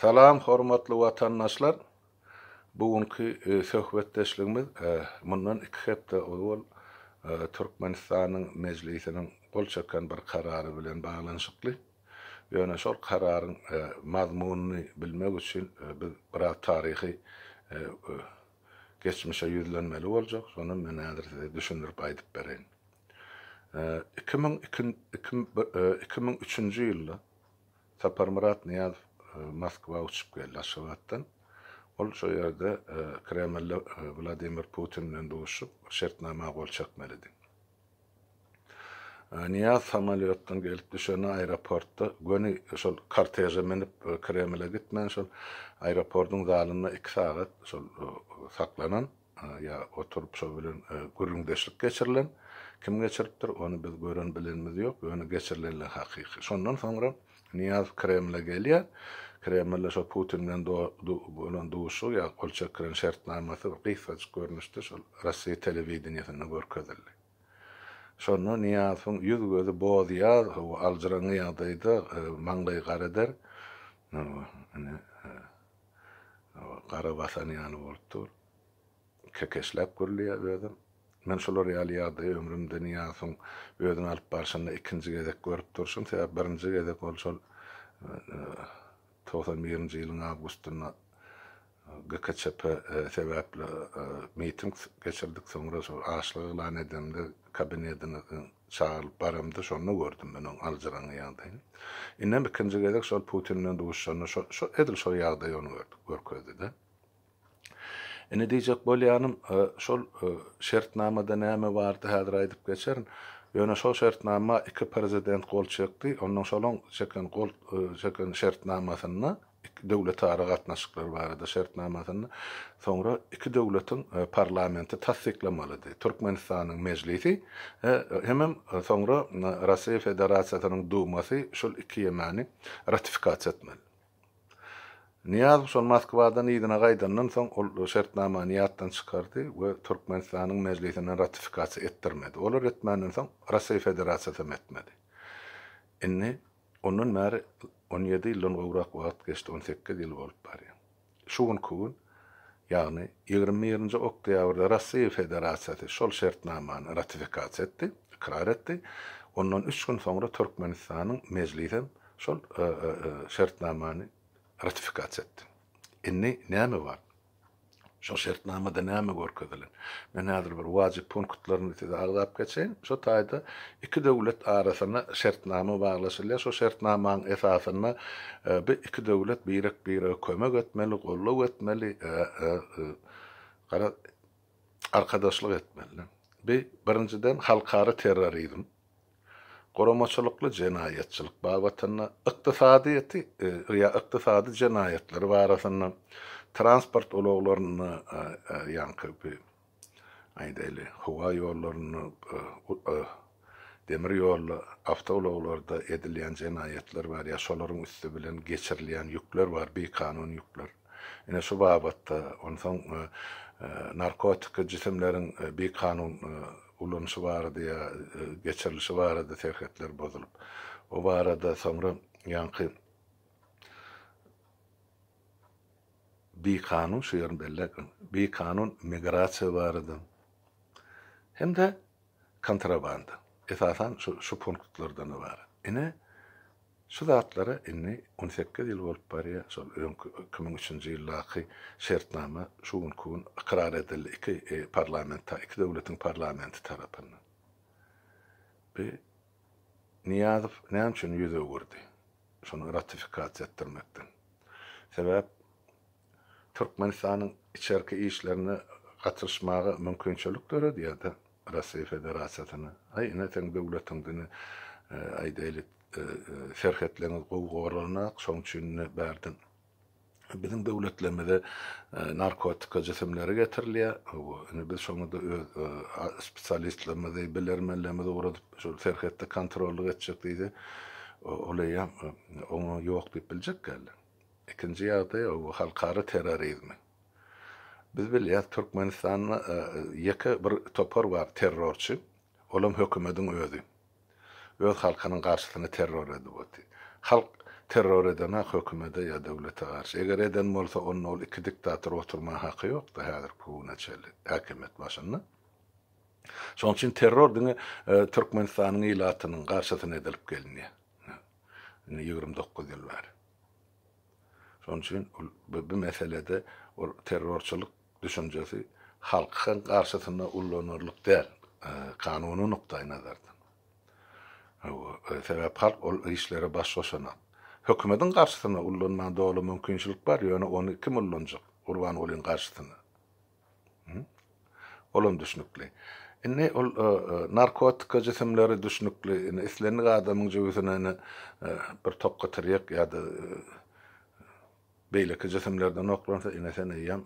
Salam hormatly watandaşlar! Bu günki söhbetdeşligimiz mundan iki hepde ozal Türkmenistanyň Mejlisiniň gol çeken bir karary bilen baglanyşykly. Ýöne şol kararyň mazmunyny bilmek üçin biz biraz taryhy geçmişe ýüzlenmeli boljak. Şony men häzir size düşündirip aýdyp bereýin. Iki müň iki iki müň üçünji ýylda Saparmyrat Nyýazow Moskwa uçup geldi Aşgabatdan. Ol şo ýerde Kremlde Wladimir Putin bilen duşup, şertnama gol çekmelidi. Nyýaz samolýotdan gelip düşende aeroportda göni şol korteže münüp Kremle gitmän şol aeropordyň zalynda iki sagat şol saklanan. ýa oturyp şo bilen gürrüňdeşlik geçirilen, kim geçiripdir, ony biz gören bilenimiz ýok, ýöne geçirilenler hakyky. Şondan soňra Nyýazow Kremle gelýär, Kremlde şo Putin bilen bolan duşuşygy ýa gol çekilen şertnamasy bir gysgajyk görnüşde şol Rossiýa telewideniýesinde görkezildi. Şonda Nyýazowyň ýüz-gözi bozýar, aljyraňňy ýagdaýda, maňlaýy gareder, ine, gara basan ýaly bolup dur. Kekeşläp gürleýär özem. Men şular ýaly ýagdaýy ömrümde Nyýasyň özüni alyp barşynda ikinji gezek görüp durşum, sebäp birinji gezek ol şol togsan birinji ýylyň awgustynda GKÇP sebäpli miting geçirdik, soňra şol açlyk yglan edemde kabinetiniň çagyrylyp baramda şonda gördüm men oň aljyraňňy ýagdaýyny. Indem ikinji gezek şol Putin bilen duşuşanda şo şo edil şo ýagdaýy ony gördük görkezdi-de. Indi diýjek bolýanym, şol şertnamada näme bardy häzir aýdyp geçerin. Ýöne şo şertnama iki prezident gol çekdi, ondan şolaň çeken gol çeken şertnamasynda, iki döwletara gatnaşyklar barada şertnamasyny, soňra iki döwletiň parlamenti tassyklamalydy, Türkmenistanyň Mejlisi hemem soňra Russiýa Federasiýasynyň Dumasy şol iki ýemany ratifikasiýa etmeli. Nyýazow şol Moskwadan yzyna gaýdandan soň ol şertnamany ýatdan çykardy we Türkmenistanyň Mejlisine ratifikasiýa etdirmedi. Olar etmänden soň Russiýa Federasiýasy hem etmedi. Indi. Ondan bäri on ýedi ýyldan gowrak wagt geçdi, on sekiz ýyl bolup barýar. Şu günki gün, ýagny ýigrimi birinji oktýabrda Russiýa Federasiýasy şol şertnamany ratifikasiýa etdi, ykrar etdi, ondan üç gün soňra Türkmenistanyň Mejlisi hem şol şertnamany ratifikasiýa etdi. Indi näme bar? Şol şertnamada näme görkezilen? Men häzir bir wajyp punktlaryny size agzap geçeýin. Şu taýda iki döwlet arasynda şertnama baglaşylýar. Şol şertnamanyň esasynda bi iki döwlet birek-birege kömek etmeli, goldaw etmeli, gara arkadaşlyk etmeli. Bi, birinjiden, halkara terrorizm. guramaçylykly jenaýatçylyk babatynda, ykdysadyýeti ýa ykdysady jenaýatlary barasynda, transport ulaglarynda, ýaňky bi, aýdaýly, howa ýollarynda, demir ýolda, awtoulaglarda edilýän jenaýatlar bar, ýa şolaryň üsti bilen geçirilýän ýükler bar, bikanun ýükler. Ine, şu babatda, onsoň narkotiki jisimleriň bikanun ulanyşy barada ýa geçirilişi barada serhetler bozulyp, o barada soňra ýaňky bikanun, şu ýerini belläýeliň, bikanun migrasiýa barada hem-de kontrabanda, esasan, şu punktlardan ybarat. Ine, Şu zatlara indi on sekiz ýyl bolup barýar, şol öňki iki müň üçünji ýyldaky şertnama şu günki gün ykrar edildi iki parlament ta iki döwletiň parlamenti tarapyndan. Bi Nyýazow näme üçin ýüz öwürdi şony ratifikasiýa etdirmekden? Sebäp Türkmenistanyň içerki işlerine gatyryşmaga mümkinçilik döredýärdi Russiýa Federasiýasyna. Aý ine seň döwletiň diňe aýdaýly serhetleňiz gowy goralanok şoň üçin ine bärden biziň döwletlerimize narkotika jisimleri getirilýär hawa ine biz şoňada öz spesialistlerimizi bilermenlerimizi ugradyp şol serhetde kontrollyk etjek diýse ol eýýäm oňa ýok diýip biljekkä ellek. Ikinji ýagdaý ol halkara terrorizmi. Biz bilýäs Türkmenistanda ýeke bir topar bar terrorçy, olam hökümediň özi. Öz halkynyň garşysyna terror edip oty. Halk terror edenak hökümede ýa döwlete garşy. Eger eden bolsa onda ol iki diktator oturma haky ýokdy häzirki güne çenli häkimiýet başynda. Şoň üçin terror diňe Türkmenistanyň ilatynyň garşysyna edilip gelinýär. Indi ýigrimi dokuz ýyl bar. Şonuň üçin ol bu meselede ol terrorçylyk düşünjesi halkyň garşysynda ullanarlyk däl, kanuny nukdaýnazardan. Hawa, sebäp halk ol işlere baş goşanok. Hökümetiň garşysynda ullanmaga doly mümkinçilik bar, ýöne ony kim ullanjak Gurbangulyň garşysynda? Olam düşnükli. Indi ol narkotika jisimleri düşnükli. Indi islendik adamyň jübüsine indi bir tokga tirýek ýa-da beýleki jisimlerden oklansa, ine sen eýýäm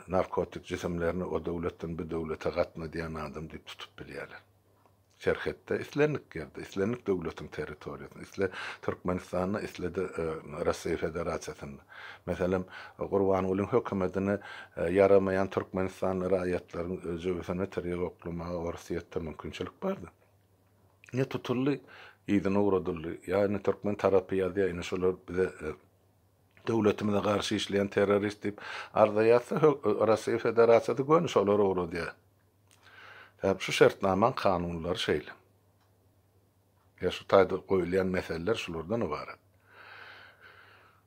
narkotik jisimlerini o döwletden bu döwlete gatnadýan adam diýip tutup bilýärler. serhetde, islendik ýerde, islendik döwletiň territoriýasynda, isle Türkmenistanda, isle-de Russiýa Federasiýasynda, meselem, Gurbangulyň hökümetini ýaramaýan türkmenistanly raýatlaryň jübüsini tirýek oklamaga Orsyýetde mümkinçilik bardy. Ine, tutuldy, yzyna ugradyldy. Ýa indi türkmen tarapy ýazýar, indi şular bize, döwletimize garşy işleýän terrorist diýip arza ýazsa, Russiýa Federasiýasy göni şolara ugradýar. Sebäbi şu şertnamaň kanunlary şeýle. Ýa şu taýda goýulýan meseleler şulardan ybarat.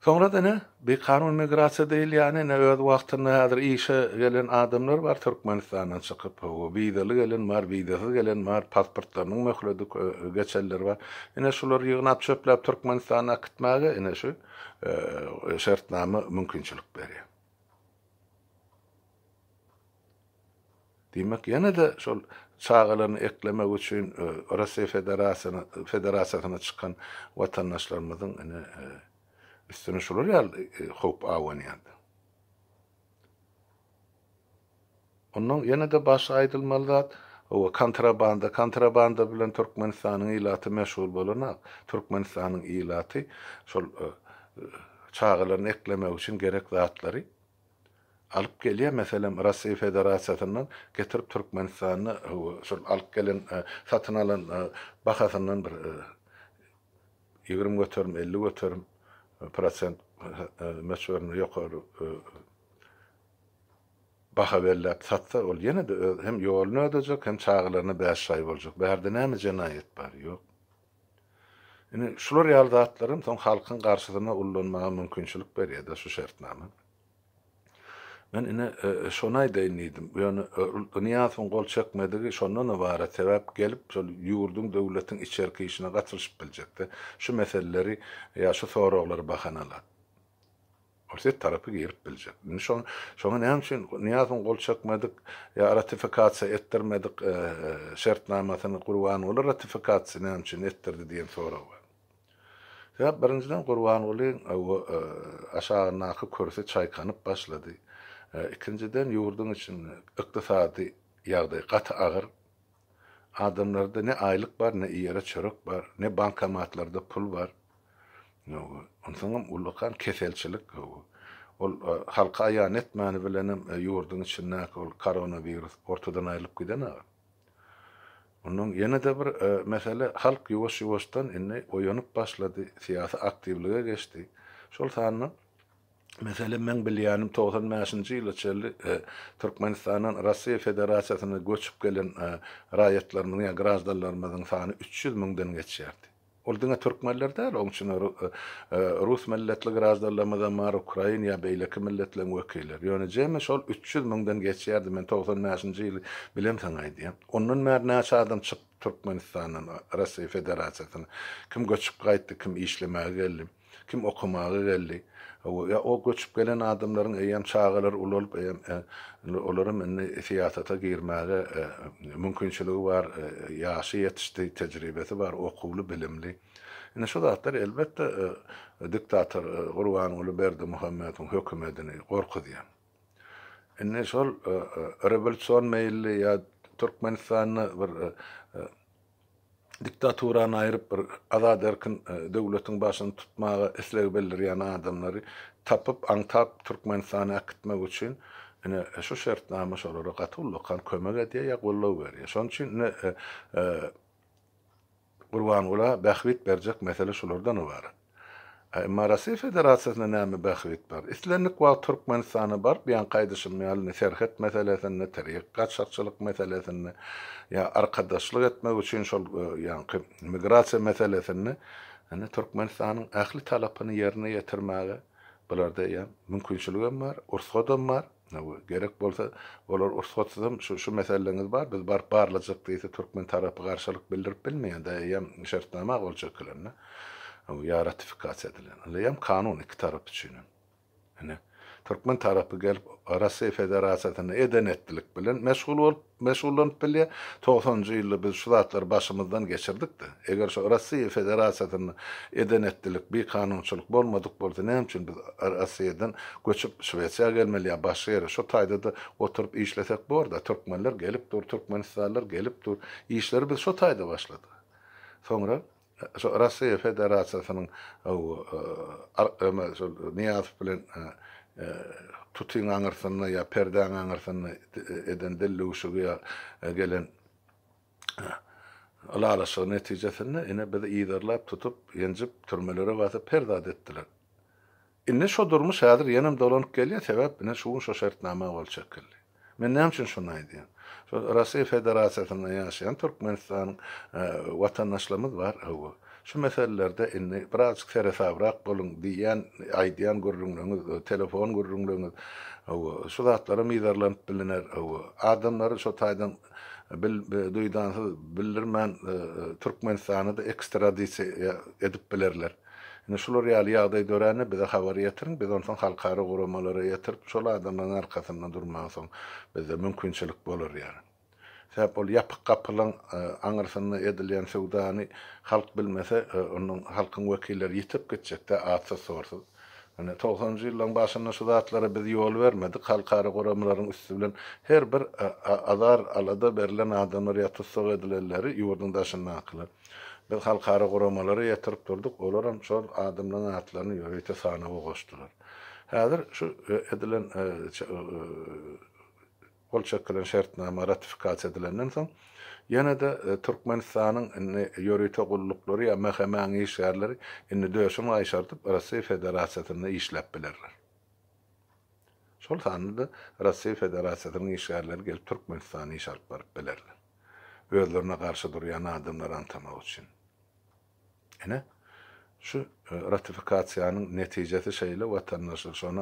Soňra-da ine, bi kanun migrasiýa diýilýäni, ine, öz wagtynda häzir işe gelen adamlar bar Türkmenistandan çykyp, hawa, wizaly gelen bar, wizasyz gelen bar, pasportlarynyň möhledi geçenler bar. Ine, şulary ýygnap-çöpläp Türkmenistana äkitmäge, ine, şu şertnama mümkinçilik berýär. Diýmek, ýene-de şol çagalaryny eklemek üçin Russiýa Federasiýasyna çykan watandaşlarymyzyň ine, üstüne şular ýaly howp abanýar. Onnoň ýene-de başga aýdylmaly zat, owa, kontrabanda. Kontrabanda bilen Türkmenistanyň ilaty meşgul bolanok. Türkmenistanyň ilaty şol çagalaryny eklemek üçin gerek zatlary, alyp gelýär. Meselem, Russiýa Federasiýasyndan getirip Türkmenistanda şol alyp gelen, satyn alan bahasyndan bir ýigrimi göterim, elli göterim prosent möçberinde ýokary baha belläp satsa, ol ýene-de öz hem ýoluny ödejek, hem çagalaryna bäşjaý boljak. Bärde näme jenaýat bar? Ýok. Indi şular ýaly zatlar hem soň halkyň garşysyna ullanmaga mümkinçilik berýär-de şu şertnama. Men ine, şony aýdaýyn diýdim. Ýöne Nyýazowyň gol çekmedigi şondan ybarat, sebäp gelip şol ýurduň, döwletiň içerki işine gatylyşyp biljek-de, şu meseleleri ýa şu soraglary bahana alar. Orsýet tarapy girip biljek. Indi şo, şoňa näme üçin Nyýazow gol çekmedik ýa ratifikasiýa etdirmedik şertnamasyny Gurbanguly ratifikasiýa näme üçin etdirdi diýen sorag bar. Sebäp birinjiden Gurbangulyň o aşagyndaky kürsi çaýkanyp başlady. Ikinjiden ýurduň içinde ykdysady ýagdaý gaty agyr. Adamlarda ne aýlyk bar, ne ýere çörek bar, ne bankomatlarda pul bar. Onsoňam ullakan keselçilik. Ol halka aýan etmäni bilenem ýurduň içindäki ol koronawirus ortadan aýrylyp giden aga. Ondan ýene-de bir mesele, halk ýuwaş-ýuwaşdan indi oýanyp başlady, syýasy aktiwlige geçdi. Şol sanda Meselem, meň bilýänim, togsan bäşinji ýyla çenli Türkmenistandan Russiýa Federasiýasyna göçüp gelen raýatlarymyzyň ýa graždanlarymyzyň sany üç ýüz müňden geçýärdi. Ol diňe türkmenler däl, oň içinde rus milletli graždanlarymyzam bar, ukrain ýa beýleki milletleriň wekilleri. Ýöne jemi şol üç ýüz müňden geçýärdi, men togsan bäşinji ýyly bilen saňa aýdýan. Ondan bäri näçe adam çykdy Türkmenistandan Russiýa Federasiýasyna? Kim göçüp gaýtdy, kim işlemäge geldi? Kim okamaga geldi? Ýa o göçüp gelen adamlaryň eýýäm çagalary ulalyp, olaram indi syýasata girmäge mümkinçiligi bar, ýaşy ýetişdi, tejribesi bar, okuwly, bilimli. Indi şu zatlar, elbetde, diktator Gurbanguly Berdimuhamedowyň hökümedini gorkuzýar. Indi şol rewolýusion meýilli ýa Türkmenistanda bir Diktaturany aýryp bir azat erkin döwletiň başyny tutmaga isleg bildirýän adamlary tapyp aňtap Türkmenistany äkitmek üçin ine şu şertnama şolara gaty ullakan kömek edýär ýa goldaw berýär. Şonuň üçin ine Gurbangula bähbit berjek mesele şulardan ybarat. Emma Russiýa Federasiýasynda näme bähbit bar? Islendik wagt Türkmenistana baryp ýan gaýdyşym ýaly ne serhet meselesinde, tirýek gaçakçylyk meselesinde ýa arkadaşlyk etmek üçin şol ýanky migrasiýa meselesinde indi Türkmenistanyň ähli talapyny ýerine ýetirmäge bularda ýa mümkinçiligem bar, ursgadam bar. Hawa, gerek bolsa, olar ursatsyzam şu, şu meseleňiz bar, biz baryp barlajak diýse, türkmen tarapy garşylyk bildirip bilmeýändir, eýýäm şertnama gol çekilende, hawa, ýa ratifikasiýa edilen, ylýam kanun iki tarap üçin hem. Ine, türkmen tarapy gelip, Russiýa Federasiýasyna eden-etdilik bilen meşgul bolup, meşgullanyp bilýär. Togsanynjy ýylda biz şu zatlary başymyzdan geçirdik-de. Eger şu Rossiýa Federasiýasynda eden-etdilik, bikanunçylyk bolmadyk bolsa, näme üçin biz Rossiýadan göçüp Şwesiýa gelmeli ýa başga ýere? Şu taýda-da oturyp işlesek bor-da. Türkmenler gelip dur, türkmenistanlylar gelip dur. Işleri biz şu taýda başladyk. Soňra Şo Rossiýa Federasiýasynyň şol Nyýazow bilen tutyň aňyrsynda ýa perdäň aňyrsynda eden dildüwşügi ýa gelen ylalaşygy netijesinde ine bizi yzarlap tutup, ýenjip, türmelere basyp her zat etdiler. Indi şo durmuş häzir ýenem dolanyp gelýär, sebäp ine şu gün şo şertnama gol çekildi. Men näme üçin şuny aýdýan? Şo Rasiýa Federasiýasynda ýaşaýan Türkmenistanyň watandaşlarymyz bar, hawa, şu meselelerde indi birazjyk seresabrak boluň diýýän, aýdýan gürrüňleriňiz, telefon gürrüňleriňiz, hawa, şu zatlara mizarlanyp biliner, hawa, adamlary şo taýdan bil duýdansyz, bildirmän Türkmenistana-da ekstradisiýa edip bilerler. Indi şular ýaly ýagdaý dörände bize habar ýetiriň, biz onsoň halkara guramalara ýetirip, şol adamlaryň arkasynda durmaga soň bizde mümkinçilik bolar ýaly. Sebäp ol ýapyk gapylaň aňyrsynda edilýän söwdany halk bilmese, onda halkyň wekilleri ýitip gitjekdä atsyz-sorsuz. Ine, togsanjy ýyllaryň başynda şu zatlara biz ýol bermedik, halkara guramalaryň üsti bilen her bir azar-alada berlen adamlar ýa tussag edilenleri ýurduň daşyndakylar, Biz halkara guramalara ýatyryp durduk, olaram şol adamlaryň atlaryny ýörite sanawa goşdular. Häzir şu edilen gol çekilen şertnama ratifikasiýa edilenden soň, ýene-de Türkmenistanyň indi ýörite gulluklary ýa MHM-iň işgärleri indi döşün gaýşardyp Russiýa Federasiýasynda işläp bilerler. Şol sanda-da Russiýa Federasiýasynyň işgärleri gelip Türkmenistanda iş alyp baryp bilerler. özlerine garşy durýan adamlary anytamak üçin. Ine, şu ratifikasiýanyň netijesi şeýle, watandaşlar, şony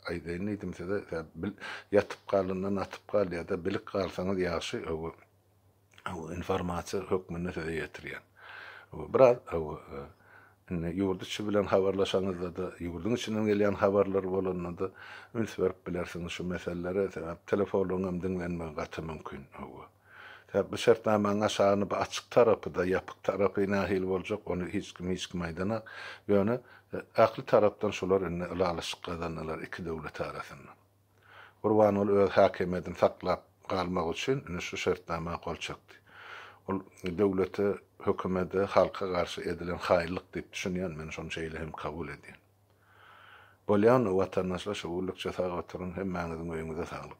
aýdaýyn diýdim size, ýatyp galyndan atyp gal ýa-da bilip galsaňyz ýagşy, informasiýa hökmünde size ýetirýän. Biraz Indi ýurt içi bilen habarlaşanyňyzda-da, ýurduň içinden gelýän habarlar bolanda-da üns berip bilersiňiz şu meselelere, sebäp telefonlaryň hem diňlenmegi gaty mümkin. Hawa. Sebäp bu şertnamaň aşagyny bu açyk tarapy-da, ýapyk tarapy nähili boljak, ony hiç kim hiç kime aýdanok. Ýöne ähli tarapdan şular indi ylalaşyk gazandylar iki döwlet arasynda. Gurbanguly öz häkimiýedini saklap galmak üçin ine şu şertnama gol çekdi. Ol döwlete, hökümede, halka garşy edilen haýyllyk diýip düşünýän, men şony şeýle hem kabul edýän. Bolýan, watandaşlar şo günlükçe sag oturyň, hemmäňiziň öýüňize saglyk.